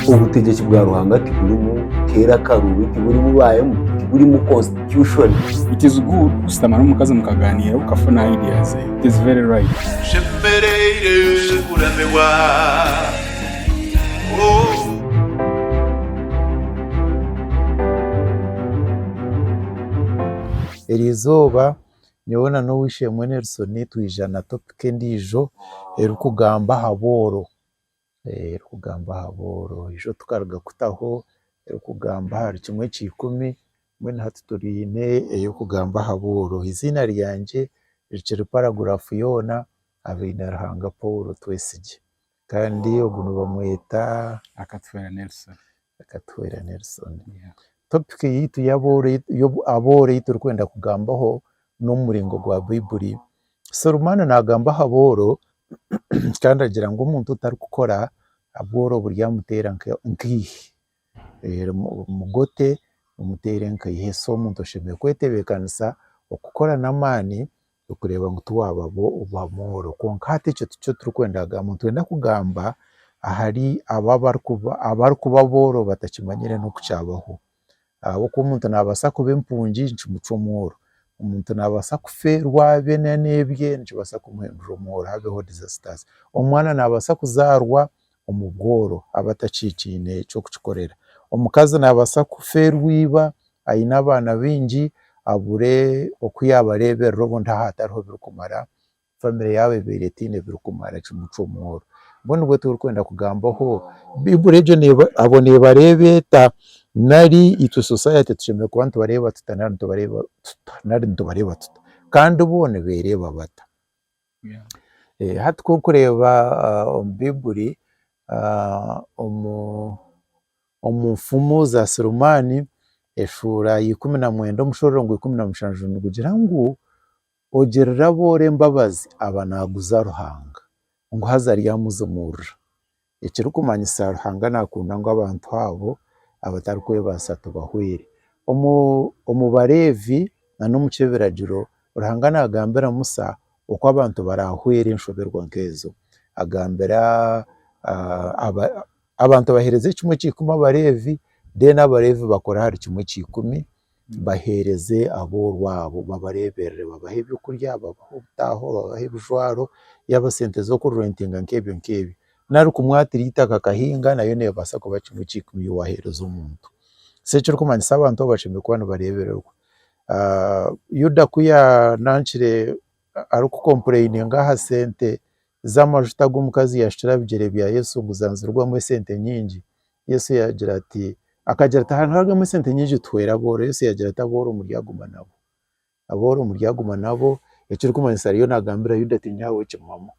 Obutegyeki bwa Ruhanga tiburimu keera akaruubi, tiburimu baayemu, tiburimu constitution. It is good kushutama n'omukazi mukagaaniira okafuna idea ze. It is very right. Nshemereire kuramirwa oh. Erizooba Nyowe na n'ow'eishe-emwe Nelson twija na topic endiijo erikugamba aha booro, erikugamba aha booro. Eijo tukaruga kutaho erikugamba ahari kimwe ekya ikumi, mbwenu hati twine ey'okugamba aha booro. Eiziina ryangye rikiri paragurafu yoona, Abeine Ruhanga Paul Twesigye. Kandi ogu nibamweta Akatwera Nelson. Akatwera Nelson. Yeah. Topic yaitu y'abooro ei turikwenda kugambaho n'omuringo gwa Baibuli. Serumaana naagamba aha booro kandi agira ngu omuntu otarikukora, obworo buryamuteera nkaihi. Mugote, mumuteere nkaiha. So omuntu oshemereire kwetebekanisa okukora n'amaani okureeba ngu tiwabaho owabooro. Kwonka hati ekyo tikyo turikwenda kugamba. Nitwenda kugamba ahari abo abarikuba abarikuba abooro batakimanyire n'oku kyabaho. Ahabw'okuba omuntu naabaasa kuba empungi nikimucwa omworo, omuntu naabaasa kufa erwabe na n'ebye nikibaasa kumuhindura omworo habeho disasters. Omwana naabaasa kuzaarwa omu bworo aba atakikiine ky'okukikorera. Omukazi naabaasa kufa erwiba aine abaana baingi abure oku yaabareeberera obundi hatariho birikumara, famire yaabo ebeera etaine birikumara kimucwa omworo. Mbwenu nibwe turikwenda kugambaho, Baiburi egyo abo neebareeba eta? Nari itwe sosayete tushemereire kuba nitubareeba tuta nari nitubareeba tuta? Kandi bo nibeereeba bata? Hati ku orikureeba omu Baiburi, omu nfumu za Sulemani, eshuura ya ikumi na mwenda omushororongo gwa ikumi na mushanju nigugira ngu, ogirire abooro embabazi aba naguza Ruhanga, ngu haza aryamuzimuurira. ekirikumanyisa Ruhanga naakunda ngu abantu abo abatarikwebaasa tubahweere. Omu omu Bareevi na n'omu ky'ebiragiro, Ruhanga naagambira Musa oku abantu baraahweere enshoberwa nk'ezo. Agambira abantu baheereze ekimwe kya ikumi Abareevi, mbwenu Abareevi bakore ahari kimwe kya ikumi baheereze aboorwo abo, babareeberere, babahe ebyokurya, babahe obutaaho, babahe ebijwaro, yaaba sente z'okurentinga nk'ebyo nk'ebyo. N'arikumwatirira eitaka akahinga nayo neebaasa kuba kimwe ekya ikumi ei waaheereza omuntu. So ekirikumanyisa abantu abo bashemereire kuba nibareebererwa. Yuda ku yaanangire arikukompureiniinga aha sente z'amajuta agu omukazi yaashukire aha bigyere bya Yesu ngu zanzirwamu esente nyingi, Yesu yaagira ati, akagira ati haragamu esente nyingi tuheere abooro, Yesu yaagira ati abooro muryaguma nabo, abooro muryaguma nabo, ekirikumanyisa ariyo naagambira Yuda ati nyowe ahabw'okugira eki mumama,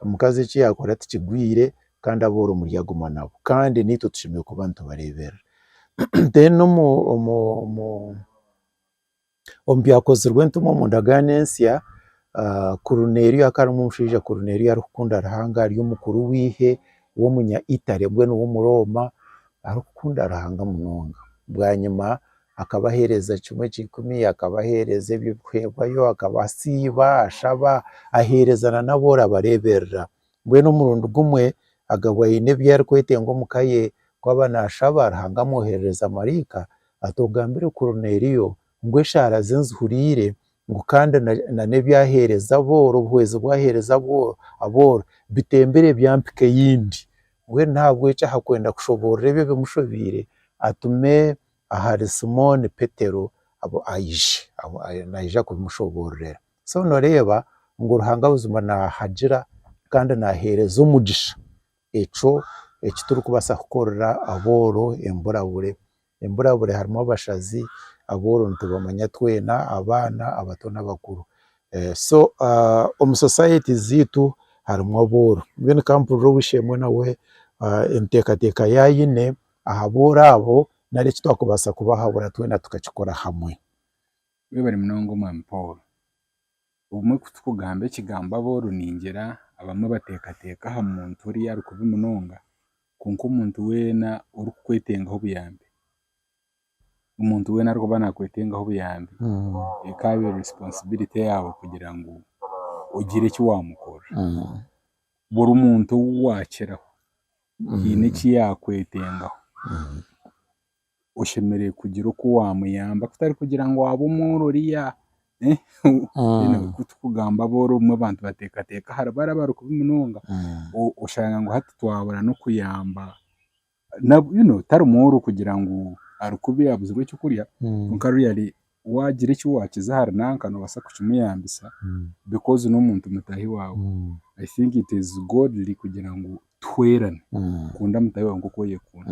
omukazi eki yaakora tikigwire kandi abooro muryaguma nabo kandi naitwe tushemereire kuba nitubareeberera then omu omu Omu Byakozirwe Entumwa omu ndagaano ensya, Korineeriyo akaba ari omushaija Korineeriyo arikukunda Ruhanga ari omukuru w'eihe w'omunya Itare mbwenu w'Omurooma arikukunda Ruhanga munonga. Bwanyima akaba aheereza kimwe ekya ikumi, akaba aheereza eby'okuheebwayo, akaba asiiba, ashaba, aheereza n'abu orabareeberera. Mbwenu omurundi gumwe agabwe aine ebi arikwetenga omu ka ye, ku aba naashaba, Ruhanga amwoherereza maraika ati, Ogambire Koruneliyo ngu eshaara ze nzihuriire, ngu kandi na n'ebi aheereza abooro, obuhwezi bu aheereza abooro, bitembire ebya mpika eyindi. Mbwenu n'ahabw'ekyo ahakwenda kushoboorora ebyo ebimushobeire, atume ahari Simooni Petero, aije, naija kubimushoboororera. So noreeba ngu Ruhanga buzima nahagira kandi nahereza omugisha ekyo ekiturikubaasa kukorera abooro emburabure. Emburabure harimu abashazi, abooro nitubamanya twena, abaana, abato n'abakuru. So omu society zeitu harimu abooro mbwenu ka mpurire ow'eishe-emwe nawe enteekateeka ya aine aha booro abo nari ekitwakubaasa kubahabura twena tukakikora hamwe. Webare munonga omwami Paul. Obumwe kutukugamba ekigambo abooro ningira abamwe batekateka aha muntu oriya ari kubi munonga kwonka omuntu weena ori kukwetengaho obuyambi, omuntu weena arikuba nakwetengaho obuyambi ekabire responsibility yaawe kugira ngu ogire eki wamukorera. Buri muntu ou wakiraho hiine eki yakwetengaho. oshemereire kugira oku wamuyamba kutari kugira ngu waabe omworo oriya kutukugamba aboro obumwe abantu bateekateeka ahari bari abari kubi munonga oshanga ngu hati twabura n'okuyamba tari mworo kugira ngu ari kubi abuzirwe ekyokurya kwonka really waagira eki waakiza ahari nanka noobaasa kukimuyambisa because n'omuntu mutaahi waawe. I think it is Godly kugira ngu tuhweerane, kunda mutaahi waawe nk'oku oyekunda.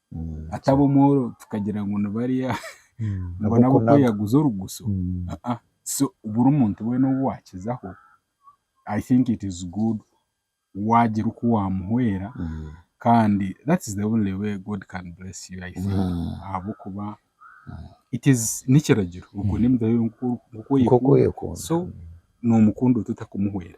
ataba omworo tukagira ngu ni bariya ngu ni ab'okweyaguza orugusu. Aa so buri muntu weena ou waakizaho, I think it is good waagira oku waamuhwera kandi that is the only way God can bless you I think ahabw'okuba it is n'ekiragiro okunde mutaahi waawe nk'oku oyekunda. So noomukunda ota otarikumuhwera.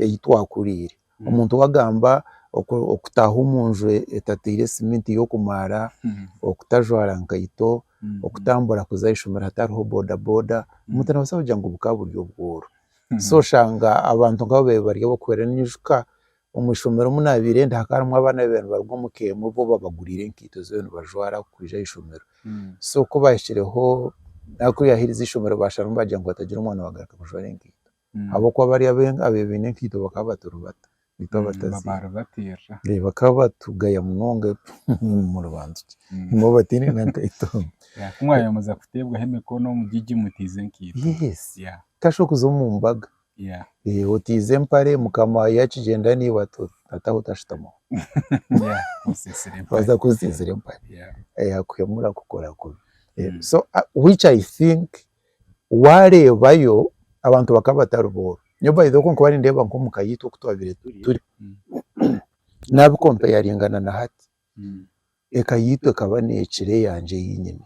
ei twakuriire. Omuntu ou agamba okutaaha omu nju etateire siminti y'okumaara, okutajwara nkaito, okutambura kuza aha ishomero hatariho bodaboda, omuntu naabaasa kugira ngu bukaba buri obworo. So oshanga abantu nk'abo babaire bari ab'okuhwera. Nyijuka omu ishomero omu naabaire ndi hakaba harimu abaana abaabaire nibaruga omu ka emwe bo babaguriire enkaito ez'okuba nibajwara kwija aha ishomero. So ku baahikireho, naku yaaherize ishomero baasharamu baagira ngu hatagira omwana waagaruka kujwara enkaito. ahabw'okuba bari ab'ebibiina enkaito bakaba baturi bata? Baitu abataziine. Bakaba batugaya munonga muribanza ki? Ngu abataine na nkaito. Yes, tihakashuba okuza omu mbaga otaize empare mukama yaakigyenda naiwe ati otaaha otashutamaho. Waaza kuba otsiitsire empare akuhemura akukora kubi. So which I think Waareebayo abantu bakaba batari booro. Nyowe by the way oku nkuba nindeeba nk'omu ka yaitu oku twabaire turi, nabi kompeyaringana na hati, eka yaitu ekaba neekira eyangye ei nyine.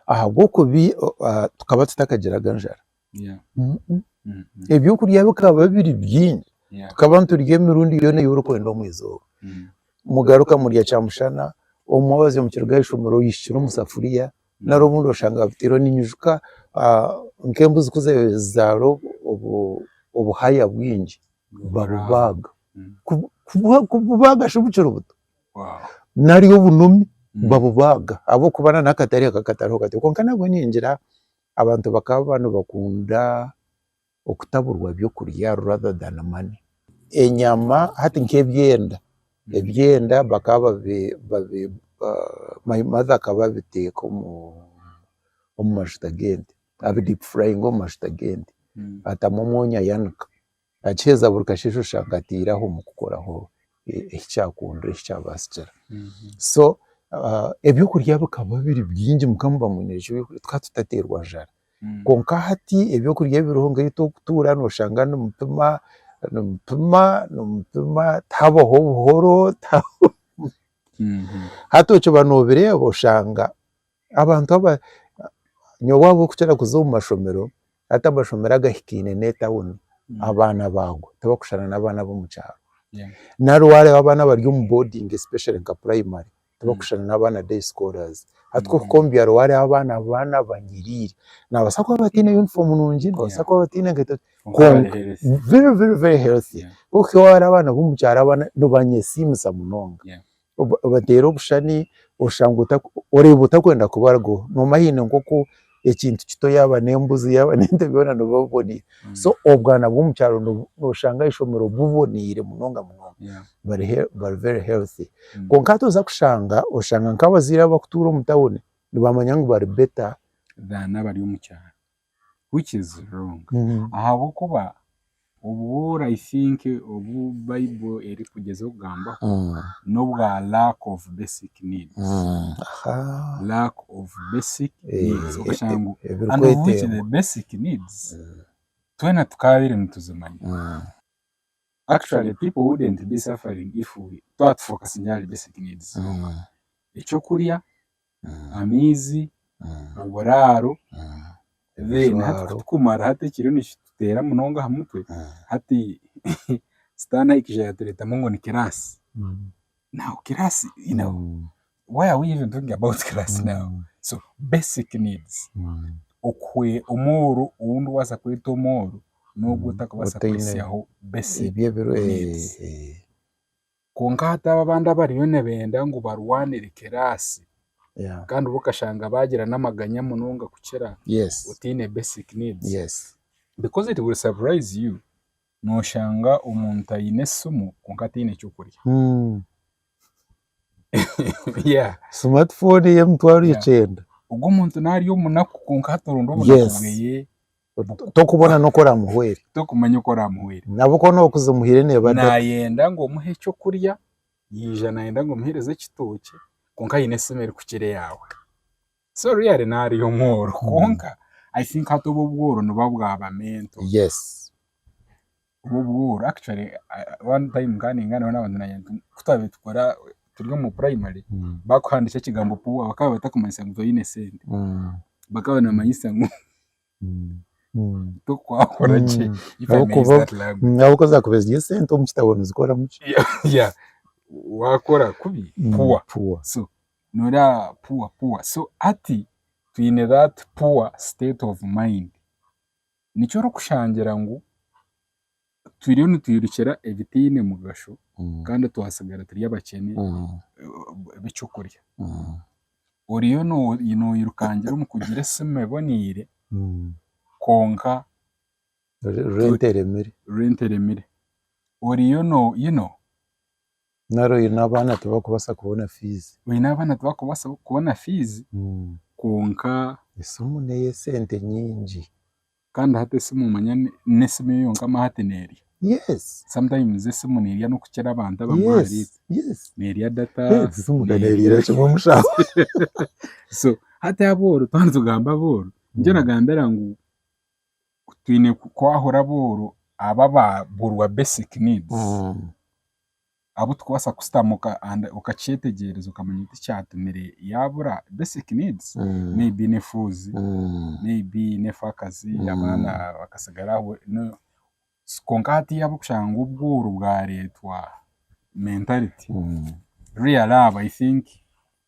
Ahabw'okuba tukaba tutakagiraga njara. Ebyokurya bikaba biri bingi. Tukaba niturya emirundi yoona ei orikwenda omu izooba. Mugaruka murya kyamushana, omwe oze omu kiruga aha ishomero oihikire omu safuriya, nari obundi oshanga babiteirwe ninyijuka nk'embuzi ku zaara obuhaya bwingi babubaaga, kububaaga shi bukiri buto nari obunomi babubaaga ahabw'okuba na n'akatare kakatariho kati kwonka nabwe ningira abantu bakaba nibakunda okutaburwa ebyokurya rather than money. Enyama hati nk'ebyenda, ebyenda bakaba babi my mother akaba abiteeka omu omu mashuta g'ente, abi deep fryinga omu mashuta g'ente, atamu omwonyo ayanika, akiheza buri kasheshe oshanga ateiraho omu kukoraho eki kyakundwa eki kyabasikira. So ebyokurya bikaba biri bingi mukama oba amwine enshonga yokugira tukaba tutaterwa njara. Kwonka hati eby'okurya ebiriho nk'ebi turikutuura nooshanga nimupima, nimupima, nimupima tihabaho buhoro, tihabaho hati okiba noobireeba oshanga abantu aba, nyowe waaba orikukira kuza omu mashomero, hati amashomero agahikaine n'etauni, abaana baago tibarikushushana n'abaana b'omu kyaro. Nari waareeba abaana abari omu boodingi especially nka purayimari tibakushushana n'abaana day scholars. Hati ku ohika omu byaro hariho abaana abaana banyiriire. Nibabaasa kuba bataine yunifoomu nungi, nibabaasa kuba bataine nkaito kwonka very very very healthy. Yeah. Ku ohika ewaabo hariho abaana b'omu kyaro abaana nibanyesiimisa munonga. Yeah. Oba obateera obushushani oshanga ota oreeba otakwenda kubarugaho. Noomanya haine nk'oku. ekintu kito yaaba n'embuzi yaaba n'ente byona nibuba buboneire. So obwana bw'omu kyaro nobu nooshanga aha ishomero buboneire munonga munonga. Yeah. bari hea- bari very healthy. Mm. Kwonka hati oza kushanga, oshanga nk'abazaire abo abakutuura omu tawuni nibamanya ngu bari better. than abari omu kyaro which is wrong ahabw'okuba Obu I think obu bible erikugyezaho kugambaho nobwa lack of basic needs lack of basic needs okashanga ngu and of which the basic needs twena tukabire nituzimanya actually people wouldn't be suffering if we twaba tufokasingyire ahari basic needs zonka ekyokurya amaizi, oburaaro, then hati kutukumara hati ekiriyo nikituteera munonga aha mutwe hati sitaane ahikije yaatureetamu ngu ni kiraasi. Now kiraasi you know why are we even talking about kiraasi now? So basic needs okuhwe omworo ou ndikubaasa kweta omworo n'ogu otarikubaasa kwehitsyaho basic needs. Kwonka hati abo abandi abariyo nibenda ngu barwanire kiraasi kandi bo okashanga baagira n'amaganya munonga kukira otaine basic needs. Because it will surprise you, nooshanga omuntu aine esimu kwonka taine ky'okurya. Smart phone y'emitwaro ikyenda. Ogwo muntu naarya omunaku kwonka hati oronda obunaku bweye Tokubona n'oku oramuhwere. Tokumanya oku oramuhwere. Nabo ku orikuba ozimuhaire neeba. Naayenda ngu omuhe eky'okurya, yaija naayenda ngu omuheereze ekitookye kwonka aine esimu erikukira eyaawe. So really naaba ari omworo kwonka I think hati obu obworo nibuba bwaba mental. Yes. Obwobuhoro actually one time nkaba ningana nabana bangye nangye nti kutwabiire tukora turi omu primary bakuhandikya ekigambo poor bakaba batakumanyisa ngu toine esente bakaba nibamanyisa ngu tokwakora gye if I may use that language ahabw'okuba zaakubaire ziri esente omu kitabo nizikoramu ki? yeah waakora kubi poor Poor. so nooreeba poor poor so hati twine that poor state of mind Nikyo orikushangira ngu turiyo nitwirukira ebitaine mugasho kandi twatsigara turi abakyene b'eky'okurya. Oriyo noyirukangira omu kugira esimu eboneire kwonka rent eremire. Oriyo no you know. Nari oine abaana tibakubaasa kubona fiizi. Oine abaana tibakubaasa kubona fiizi kwonka. Esimu n'eye sente nyingi. Kandi hati esimu omanya n'esimu eyo yonka ma hati neerya. Yes. Sometimes esimu neerya n'okukira abantu abamwe ahari itwe. Yes, yes. Neerya data. Yes, esimu ka neeriira kimwe omushaaho. So hati abooro, twaba nitugamba abooro, nikyo nagambira ngu twine kwahura abooro aba ababurwa basic needs abu tukubaasa kushutama okakyetegyereza okamanya oti ekyatumire yaabura basic needs may be ne fuuzi may be n'akazi abaana bakasigara aho Kwonka hati yaaba okushanga ngu obwooro bwareetwa mentality real love i think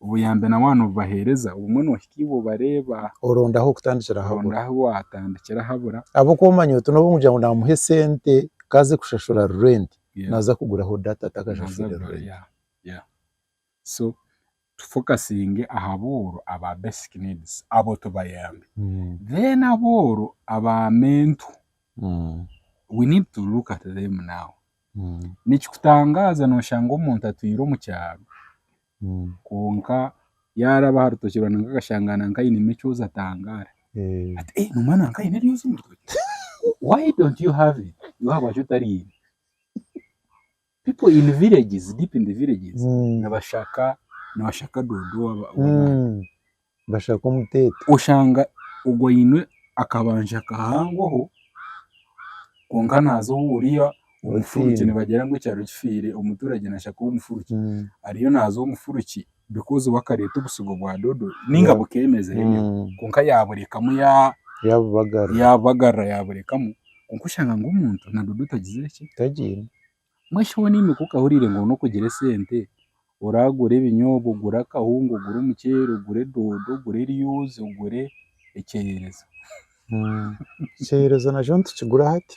obuyambi nawe waaba nobubaheereza obumwe nohika ei obareeba oronda ah'okutandikira habura oronda ahu waatandikira habura ahabw'okuba omanya oti n'obu orikugira ngu naamuha esente ku aze kushashura rurenti Yeah. naaza kuguraho data atakashashuriire rurenti yeah yeah so tu focusinge ahabooro aba basic needs abo tubayambe then abooro aba mental we need to look at them now nikikutangaaza noshanga omuntu atwiire omu kyaro kwonka yaraba aha rutookye rwa nanka akashanga nanka ainemu ekyoozi atangaara ati eeh noomanya nanka aine eryoozi omu rutookye why don't you have it iwe ahabwaki otariine People in villages, deep in the villages, Mm. nibashaka nibashaka doodo waba- w'amaani. Mm. bashaka omuteete oshanga ogwo aine akabanja kahangoho kwonka naaza owu oriya omufuregye Otiine. nibagira ngu ekyaro kifiire omuturage nashaka ow'omufuregye Mm. ariyo naaza ow'omufuregye Because wakareeta obusigo bwa dodo ninga bukemeza enyo kwonka yaburekamu yabubagarira yaburekamu kwonka oshanga ngu omuntu na dodo tagizire ki, tagiine. Mbwenu shi waaba oine kuuka ohuriire ngu noine kugira esente oragure ebinyoobwa, ogure akahunga, ogure omuceeri, ogure dodo, ogure eryoozi, ogure ekyeyerezi. Ekyeyerezi nakyo nitukigura hati.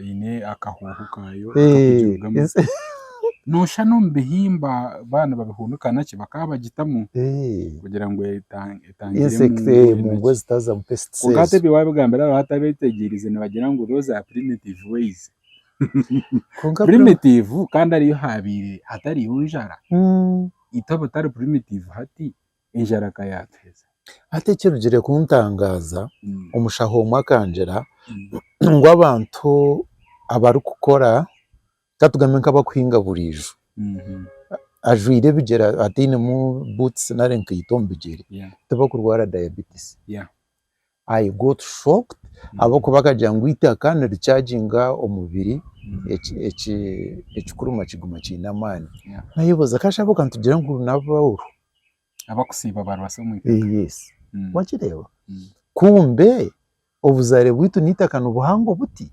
eine akahoho kaayo kakugirugamu. Nooshusha n'omu bihimba baaba nibabihunika na ki bakaba bagitamu kugira ngu etangire mungu ezitaazamu pests. Kwonka hati ebi waabigambira abo abatabyetegyerize nibagira ngu those are primitive ways. Primitive kandi hariyo haabaire hatariyo njara, itwe abatari primitive hati? enjara ka yaatuheza. Hati ekirugire kuntangaaza, omushaho omwe akangira ngu abantu abarikukora, ka tugambe nk'abarikuhinga buriijo, ajwaire ebigyere atainemu buutusi nari enkaito omu bigyere, tibakurwara diabetes. I got shocked ahabw'okuba akagira ngu eitaka nirichaginga omubiri eki- eki- ekikuruma kiguma kiine amaani. Yeah. Nayebuuza kashaabe obwe nitugira ngu n'abauru. Abakusiiba barwasa omu itaka. Eh, Yes. Mm. Wakireeba? Mm. Kumbe obuzaare bwitu n'eitaka nibuhango buti.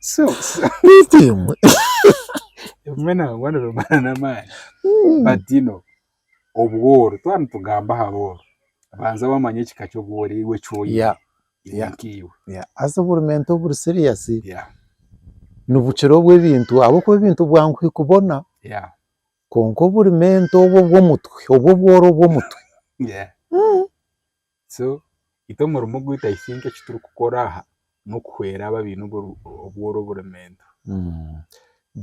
so so Beitu imwe. ebimwe nangwa nibimara n'amaani Mm. but you know obworo twaba nitugamba aha bworo banza wamanya ekika ky'obworo iwe eki oine Yeah, iwe yeah. nk'iwe yeah. Haza oburumenta oburi serious yeah nibukira obw'ebintu ahabw'okuba ebintu bwangu kukubona yeah kwonka oburumenta obwo obw'omutwe obwo obworo obw'omutwe yeah So itwe omurimo gwaitu I think eki turikukora aha n'okuhwera abo abaine obworo oburemeento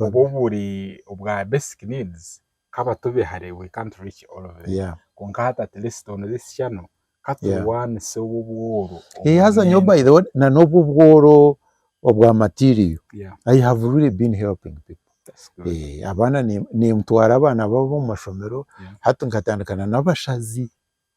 oba oburi obwa basic needs ka batobe hare we can't reach all of them Yeah. kwonka hati at least on this channel ka turwanise obu obworo Eh, haza nyowe oburemeento. by the way na n'obu obworo obwa material Yeah, I have really been helping people that's good. Eh, abaana ni- nintwara abaana babo omu mashomero Yeah. hati nkatandika na n'abashazi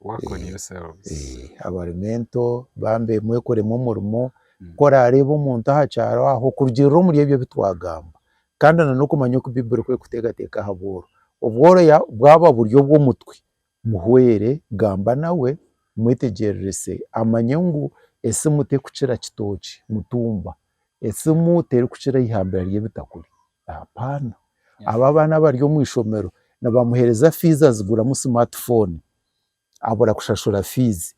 Work on yourselves. Eh, abari mental bambe mwekoremu omurimo ku oraareeba omuntu aha kyaro aho kurugiirira omuri ebyo ebi twagamba kandi na n'okumanya oku Baiburi ku erikuteekateeka aha bworo. Obworo ya bwaba buri obw'omutwe, muhwere, gamba nawe, mwetegyererese amanye ngu esimu terikukira kitookye, mutumba. Esimu terikukira eihambira ry'ebitakuri. Hapana. Abo abaana abari omu ishomero nibamuheereza fiizi aziguramu simaatifooni, abura kushashura fiizi.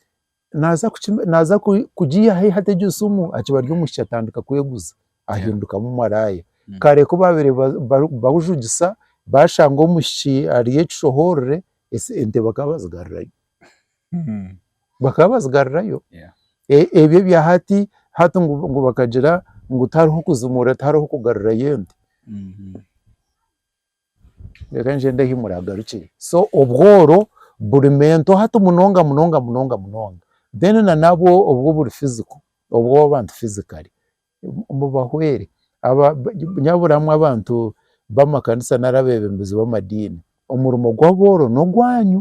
Naaza kuki naaza ku- kugiiha haihi ata egyo simu, akiba ari omwishiki atandika kweguza, ahindukamu maraaya. Kare ku baabaire ba- ba- barikujugisa, baashanga omwishiki ari ekishohoorore, ese ente bakaba bazigarurayo. bakaba bazigarirayo ebyo ebya hati hati ngu bakagira ngu tihariho kuzimurira tihariho kugarurayo ente reka ngyende ahu muragarukire so obworo burimu ente hati munonga munonga munonga munonga then na nabwo oburi physical obw'abantu physically mubahwere nyaburamwo abantu b'amakanisa nari abebembezi b'amadiini, omurimo gw'abooro n'ogwanyu,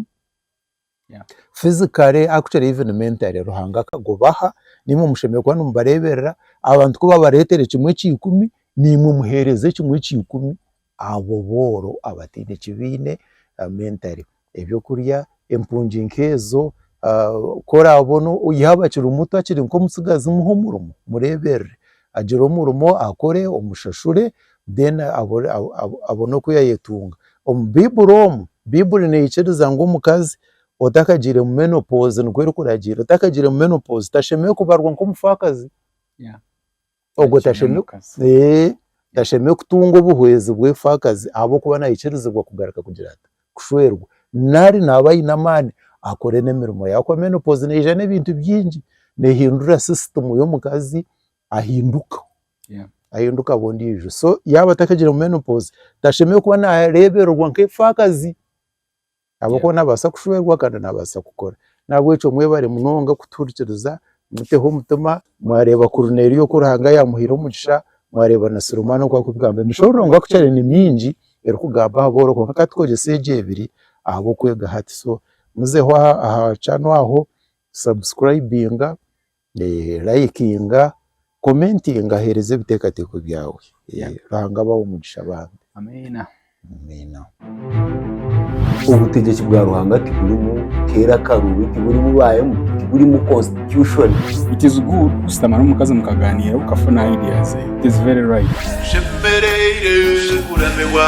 physically actually even mentally Ruhanga akagubaha naimwe mushemereire kuba nimubareeberera, abantu ku babareetere kimwe ekya ikumi naimwe muheereze ekimwe ekya ikumi Abo booro abataine ki baine, mentally, eby'okurya, empungi nk'ezo, ku oraabona yaaba akiri muto akiri nk'omutsigazi muhe omurimo, mureeberere agire omurimo akore omushashure then abone oku yaayetunga. Omu Baiburi omu, Baiburi neikiriza ngu omukazi otakagiire mu menopause nikwo erikuragiira, otakagiire mu menopause tashemereire kubarwa nk'omufaakazi. Ogwo tashemereire tashemereire kutunga obuhwezi bw'efaakazi ahabw'okuba naikirizibwa kugaruka kugira ata kushwerwa. Nari naaba aine amaani akore n'emirimo ye ahabw'okuba menopause neija n'ebintu bingi. Neehindura sisitimu y'omukazi ahinduka ahinduka aba ondiijo. So yaaba atakagire omu menopause tashemereire kuba naareebererwa nk'efaakazi. ahabw'okuba naabaasa kushwerwa kandi naabaasa kukora. Nahabwekyo mwebare munonga kutuhurikiriza, muteho omutima, mwareeba Korineeliyo oku Ruhanga yaamuhaire omugisha, mwareeba na Sirimaana oku arikugamba. Emishooro Ruhanga kukyari ni mingi erikugamba aha booro kwonka ka tukozese egyo ebiri ahabw'okwega hati. So muzeho aha aha channel aho, subscribinga, Layikinga, komentinga heereza ebiteekateeko byawe. Ruhanga abahe omugisha bambi. Amiina. Obutegyeki bwa Ruhanga tiburimu keera akaruubi, tiburimu ba MP, tiburimu constitution. It is good kushutama n'omukazi mukaganiira okafuna idea ze. It is very right. Tushemereire kuramirwa.